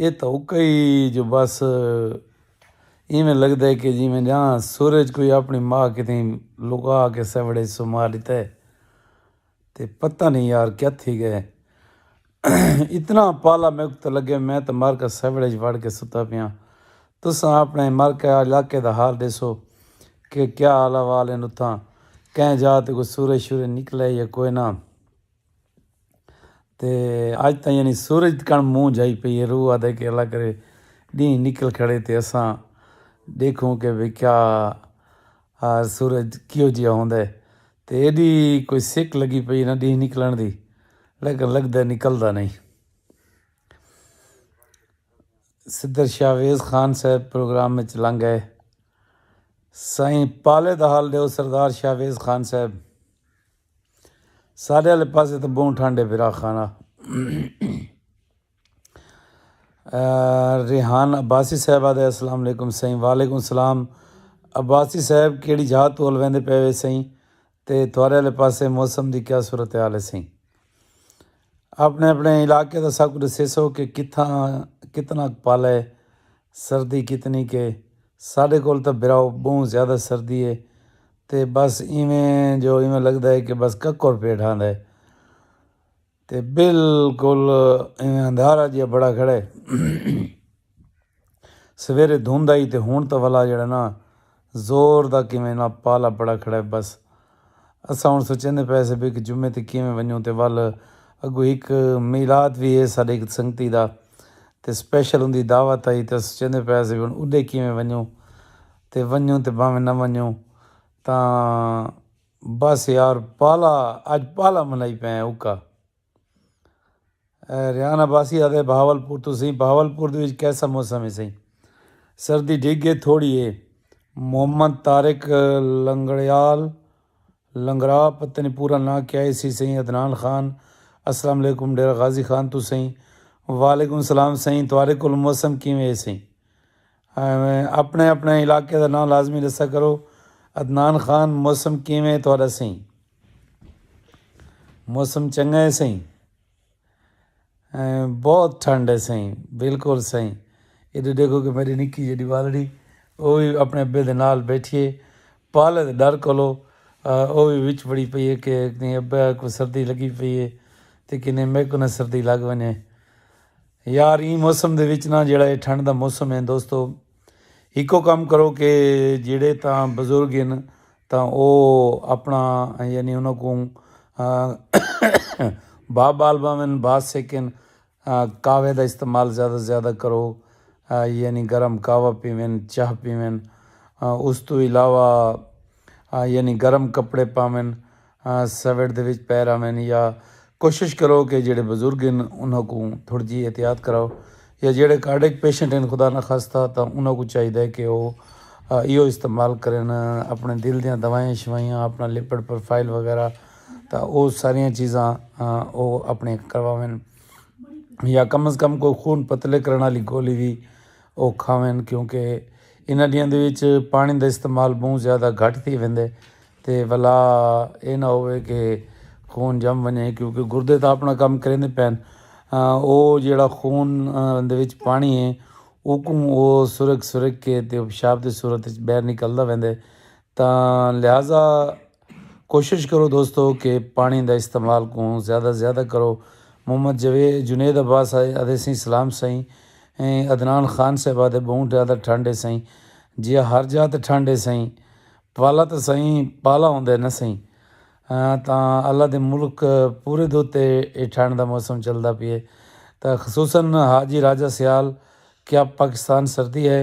ایہ تاں اوکا ای جو بس ایویں لگدا ہے کہ جیویں جاں سورج کوئی اپݨی ماء کیتے لکا کے سیوڑ اچ سما ݙتا ہے تے پتہ نئیں یار کیا تھی ڳئے اتنا پالا میکوں تاں لڳے میں تاں مر کے سیوڑ اچ وڑ کے ستا پیاں تساں اپݨے مر کے علاقے دا حال ݙیسو کہ کیا حال احوال ہن اتھاں کہیں جاہ تے کوئی سورج شورج نکلا ہے یا کوئناں۔ تے اج تاں یعنی سورج کݨ منہ جائی پئی ہے روح آدھے کہ اللہ کرے ݙینھ نکل کھڑے تے اساں ݙیکھوں کہ بھئی کیا سورج کیہو جیا ہوندا ہے تے ایݙی کوئی سک لڳی پئی نہ ݙینھ نکلݨ دی لیکن لڳدا نکلدا نئیں۔ صدر شاہ ویس خان صاحب پروگرام وچ لنڳ آئے۔ سائیں پالے دا حال ݙیو سردار شاہ ویس خان صاحب۔ ساڈے والے پاسے تو بہت ٹھنڈ ہے برا خان ریحان عباسی صاحب آدھے السلام علیکم سائیں وعلیکم السلام عباسی صاحب کیڑی جہاں تو الوین دے پیوے سائیں تے تھوارے والے پاسے موسم دی کیا صورت حال ہے سائیں اپنے اپنے علاقے دا سب کچھ سیسو سو کہ کتنا کتنا پالا ہے سردی کتنی کہ ساڈے کول تو براؤ بہت زیادہ سردی ہے تے بس ایویں جو ایویں لگدا ہے کہ بس ککر پیا ڈھاندا ہے تے بالکل ایویں اندھارا جیا بڑا کھڑا ہے سویرے دھند آئی تے ہن تاں ولا جیڑا نا زور دا کیویں نا پالا بڑا کھڑا ہے بس اساں ہن سوچیندے پئے سے کہ جمعہ تے کیویں ونجوں تے ول اگو ہک میلاد وی ہے ساڈے ہک سنگتی دا تے اسپیشل اوندی دعوت آئی تے سوچیندے پئے سے ہن اڈے کیویں ونجوں تے ونجوں تے بھانویں نہ ونجوں تاں بس یار پالا اج پالا منائی پئے ہیں اوکا ریان عباسی آدھے بہاول پور توں سئیں بہاول پور دے وچ کیسا موسم ہے سئیں سردی ڈھگ گئے تھوڑی ہے محمد طارق لنگڑیال لنگڑا پتہ نہیں پورا ناں کیا ہے سی سئیں عدنان خان السلام علیکم ڈیرہ غازی خان توں سئیں وعلیکم السلام سئیں توارے کول موسم کیویں ہے سئیں ایویں اپنے اپنے علاقے دا ناں لازمی ڈسا کرو۔ عدنان خان موسم کیویں ہے تہاڈا سئیں؟ موسم چنگا ہے سئیں؟ بہت ٹھنڈ ہے سئیں؟ بالکل سئیں؟ ادھر دیکھو کہ میری نکی جیہی بالڑی او وی اپنے ابے دے نال بیٹھی ہے پالے دے ڈر کولو او وی وچ بڑی پئی ہے کہ ابے کو سردی لگی پئی ہے تے کنے میکوں نہ سردی لگ ونجے۔ یار ایں موسم دے وچ نا جیڑھا اے ٹھنڈ دا موسم اے دوستو ہکو کم کرو کہ جیڑھے تاں بزرگ ہن تاں او اپنا یعنی انہاں کوں بھا بال باون بھا سیکن کاوے دا استعمال زیادہ زیادہ کرو یعنی گرم کاوا پیون چاہ پیون اس تو علاوہ یعنی گرم کپڑے پاون، سویٹ دے وچ پے رہون یا کوشش کرو کہ جیہڑے بزرگ ہن انہاں کوں تھوڑی جی احتیاط کراؤ یا جیہڑے کارڈک پیشنٹ ہن خدا نخواستہ تاں انہاں کوں چاہیدا ہے کہ اوہ ایہو استعمال کرن اپنے دل دیاں دوائیاں شوائیاں اپنا لپڈ پروفائل وغیرہ تاں اوہ ساریاں چیزاں اوہ اپنے کرواون یا کم از کم کوئی خون پتلے کرن والی گولی وی اوکھا وین کیونکہ انہاں ڈینہاں دے وچ پانی دا استعمال بہوں زیادہ گھٹ تھی ویندے تے ولا اے نہ ہووے کہ خون جم ونجے کیونکہ گردے تاں اپنا کم کریندے پین او جیڑھا خون دے وچ پانی ہے اوکوں او سرک سرک کے تے پشاب دی صورت وچ باہر نکلدا ویندے تاں لہذا کوشش کرو دوستو کہ پانڑی دا استعمال کوں زیادہ زیادہ کرو محمد جنید عباس آدھے سئیں سلام سئیں عدنان خان صاحب آدھے بہوں زیادہ ٹھنڈ ہے سئیں جیا ہر جاہ تے ٹھنڈ ہے سئیں پالا تے سئیں پالا ہوندا ہے نا سئیں تاں اللہ دے ملک پورے دے اتے اے ٹھنڈ دا موسم چلدا پئے تاں خصوصا حاجی راجہ سیال کیا پاکستان سردی ہے۔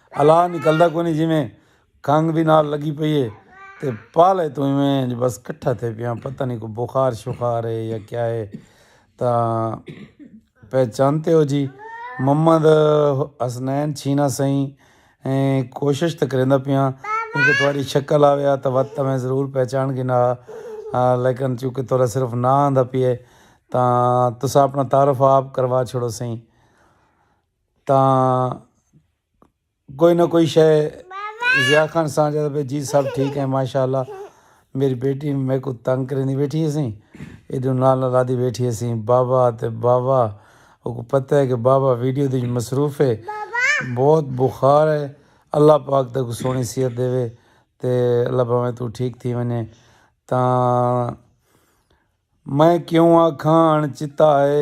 الا نکلدا کونی جیویں کھنگ وی نال لگی پئی ہے تے پالے توں ایویں انج بس کٹھا تھے پیاں پتہ نہیں کوئی بخار شخار ہے یا کیا ہے تاں پہچانتے ہو جی محمد حسنین چھینا سائیں ایں کوشش تے کریندا پیاں کیونکہ تہاڈی شکل آویا تاں وت تاں میں ضرور پہچان گینا ہا لیکن چونکہ تہاڈا صرف ناں آندا پیا ہے تاں تساں اپنا تعارف آپ کروا چھوڑو سائیں تاں کوئی نہ کوئی شے ضیا خان سان جاتا پہ جی سب ٹھیک ہے ماشاء اللہ میری بیٹی میرے کو تنگ کرنی بیٹھی ہے سی ایڈو نال نال آدھی بیٹھی ہے سی بابا تے بابا او کو پتہ ہے کہ بابا ویڈیو دی مصروف ہے بہت بخار ہے اللہ پاک تے کو سونی صحت دے وے تے اللہ پاک تو ٹھیک تھی ونے تاں میں کیوں آکھاں چتا ہے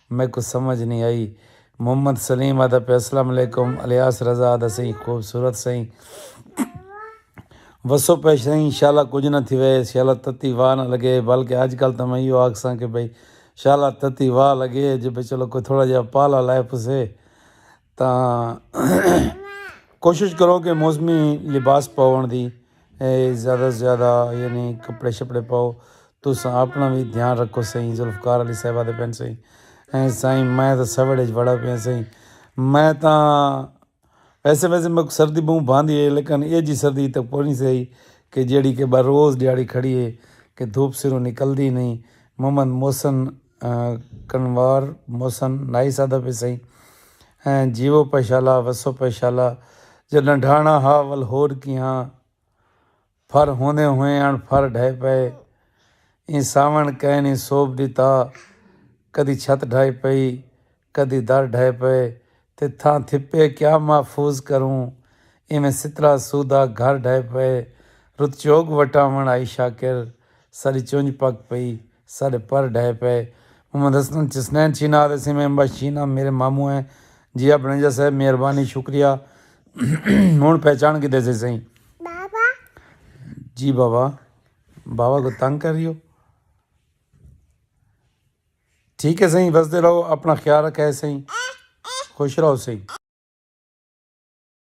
میکوں سمجھ نی آئی۔ محمد سلیم آہدا پیا السلام علیکم الیاس رضا آہدا سئیں خوبصورت سئیں وسو پئے سئیں انشاءاللہ کجھ نہ تھیوے انشاءاللہ تتی واہ نہ لگے بلکہ اج کل تاں میں ایہو آکھساں کہ بھئی انشاءاللہ تتی واہ لگے جے بھئی چلو کوئی تھوڑا جیہا پالا لائے پوسے تاں کوشش کرو کہ موسمی لباس پاؤن دی زیادہ توں زیادہ یعنی کپڑے شپڑے پاؤ تو اپنا وی دھیان رکھو سائیں ذوالفقار علی صاحب آتے پن سائیں ایں سائیں میں تاں سویرے بڑا پیا سائیں میں تاں ویسے ویسے میں سردی بہوں باندھی ہے لیکن یہ جی سردی تک پہنچی سائیں کہ جیڑی کہ بروز جیڑی کھڑی ہے کہ دھوپ سروں نکل دی نہیں محمد محسن کنوار محسن نائی سادہ پے سئیں ہیں جیو پیشالا وسو پیشالا جڈاں ڈھانا ہا ول ہور کیہاں پھر ہوندے ہوئے آن پھر ڈھے پئے ایں ساون کئے نی سوب ڈتا کدی چھت ڈھائی پئی کدی در ڈھے پئے تے تھاں تھپے کیا محفوظ کروں ایویں سترا سودا گھر ڈھے پئے رت چوگ وٹاوݨ آئی شاکر ساݙی چنج پک پئی ساݙے پر ڈھے پئے محمد حسن چسنین چینا تے سیمہ امباش چینا میݙے ماموں ہیں جی آپ نے جیسا ہے مہربانی شکریہ ہݨ پہچان کیتے سے سئیں بابا جی بابا بابا کو تنگ کر رہی ہو۔ ٹھیک ہے سائیں وسدے رہو اپنا خیال رکھے سائیں خوش رہو سائیں